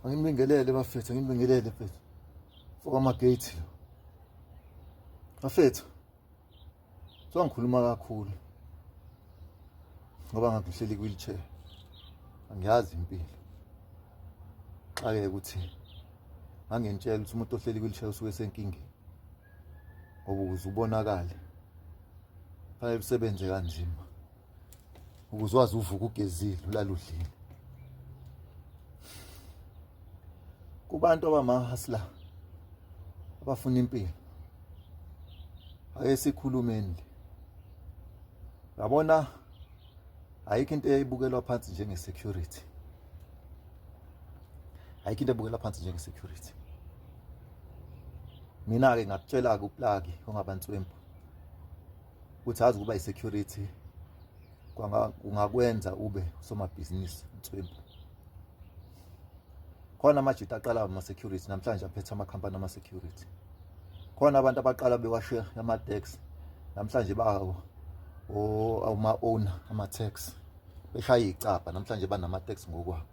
Angibingelele bafethu, angibingelele mfethu. Foka amagate lo. Bafethu. So ngikhuluma kakhulu. Ngoba ngakuhleli wheelchair. Angiyazi impilo. Xake ukuthi ngangentshela ukuthi umuntu ohleli wheelchair usuke senkingeni. Ngoba uzubonakala. Fanele usebenze kanzima. ukuze wazi uvuka ugezile ulaludlile kubantu abamahasla abafuna impilo ake sikhulumeni yabona ayikho into eyayibukelwa phansi njenge security ayikho into ebukelwa phansi njenge security mina ke ngakutshela ke uplaki ongabantswembu ukuthi azi ukuba i-security kungakwenza ube usomabhizinisi nswembu khona amajita aqala ama-security namhlanje aphethe amakhampani ama-security khona abantu abaqala bewashe ama-tax namhlanje bawo ama-owner ama-tax beshaya iy'cabha namhlanje banama-tax ngokwabo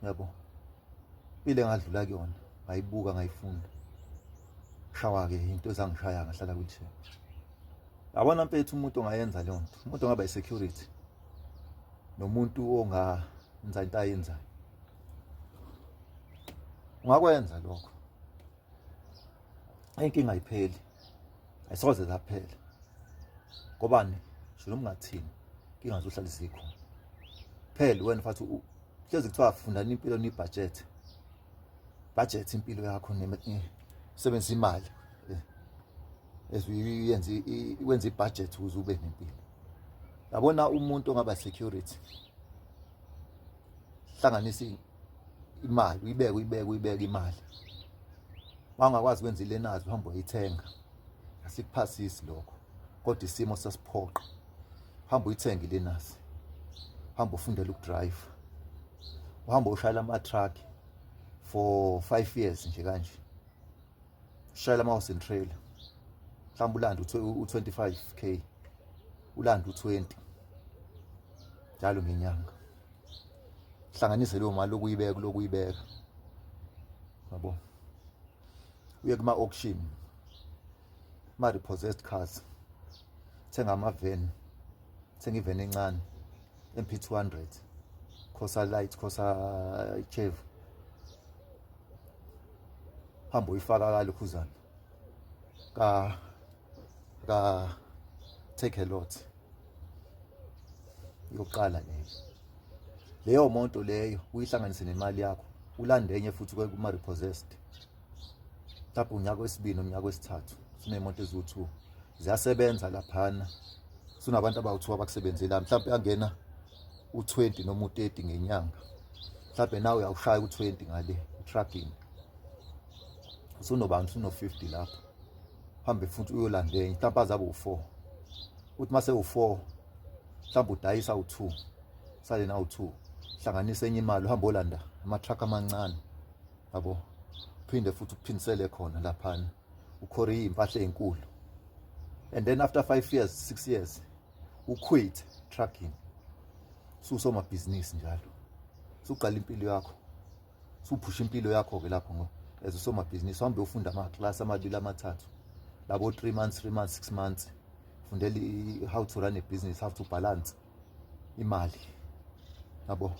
yabo impilo engadlula kuyona ngayibuka ngayifunda shawa-ke into ezangishaya ngahlala kwithi yabona mpethu umuntu ongayenza leyo nto umuntu ongaba i-security nomuntu ongenza into ayenzayo ungakwenza lokho inkinga ayipheli ayisoze zaphela ngobani shilo ungathini inkinga zohlala zikhona phela wena mfathi hlezi kuthiwa fundani impilo nibhajethe budget impilo yakho sebenza imali eziyenza wenza ibudget ukuze ube nempilo yabona umuntu ongaba security hlanganisa imali uyibeke uyibeke uyibeke imali wangakwazi kwenza ilenazi uhamba uyithenga asikuphasisi lokho kodwa isimo sasiphoqa hamba uyithenge ilenasi hamba ufundele ukudrive uhamba ushayela ama-truck for five years nje kanje ushayela ama-house and trailer mhlawumbe ulande u-25 k ulande u-20 njalo ngenyanga hlanganise leyo mali lokuyibeka lokuyibeka yabo uye kuma auction ma repossessed cars thenga ama van thenga ivan encane MP200 khosa light khosa chev hamba uyifaka kale khuzana ka ka take a lot yokuqala leyo leyo moto leyo uyihlanganise nemali yakho ulande enye futhi kuma repossessed lapho unyaka wesibini unyaka wesithathu sinemoto eziwu2 ziyasebenza laphana sunabantu abawu2 abakusebenzela mhlawumbe angena u20 noma u30 ngenyanga mhlawumbe nawe uyawushaya u20 ngale trucking sunobani suno 50 lapho hambe futhi uyolanda enye mhlawumbe azabe u-four uthi uma sewu-four mhlawumbe udayisa u-two sale na u-two hlanganisa enye imali uhambe olanda ama-truck amancane yabo phinde futhi uphindisele khona laphana ukhore iy'mpahla ey'nkulu and then after five years six years uquit trucking susomabhizinisi njalo suqala impilo yakho suphusha impilo yakho-ke lapho ngo as usomabhizinisi uhambe ufunda amaklasi amabili amathathu labo three months three months six months fundela how to run a business how to balance imali yabo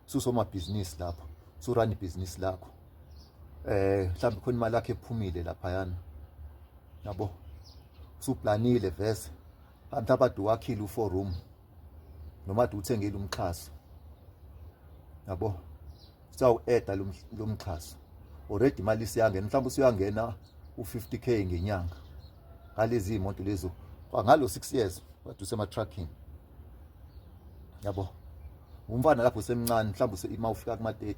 susomabhizinisi lapho surun ibhizinisi lakho eh mhlawumbe khona imali yakhe ephumile laphayana yabo suplanile vese mhlawumbe abadu wakhile u-four room noma ade uthengile umxhaso yabo sawueda lo mxhaso already imali siyangena mhlawumbe usuyangena u50k ngenyanga ngalezi imoto lezo ngalo 6 years wade usema trucking yabo umfana lapho semncane mhlawumbe usema ufika kuma 30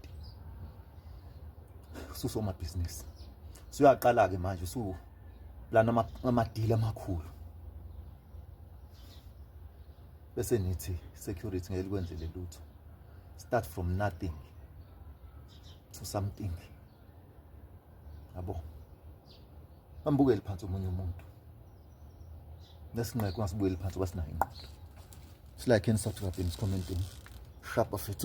susoma business suyaqala ke manje su lana ama deal amakhulu bese nithi security ngeke likwenzele lutho start from nothing to something yabo ambukeli phansi omunye umuntu nesinqeko ngasibuyeli phansi basinayo inqondo silike and subscribe in this commenting sharp of it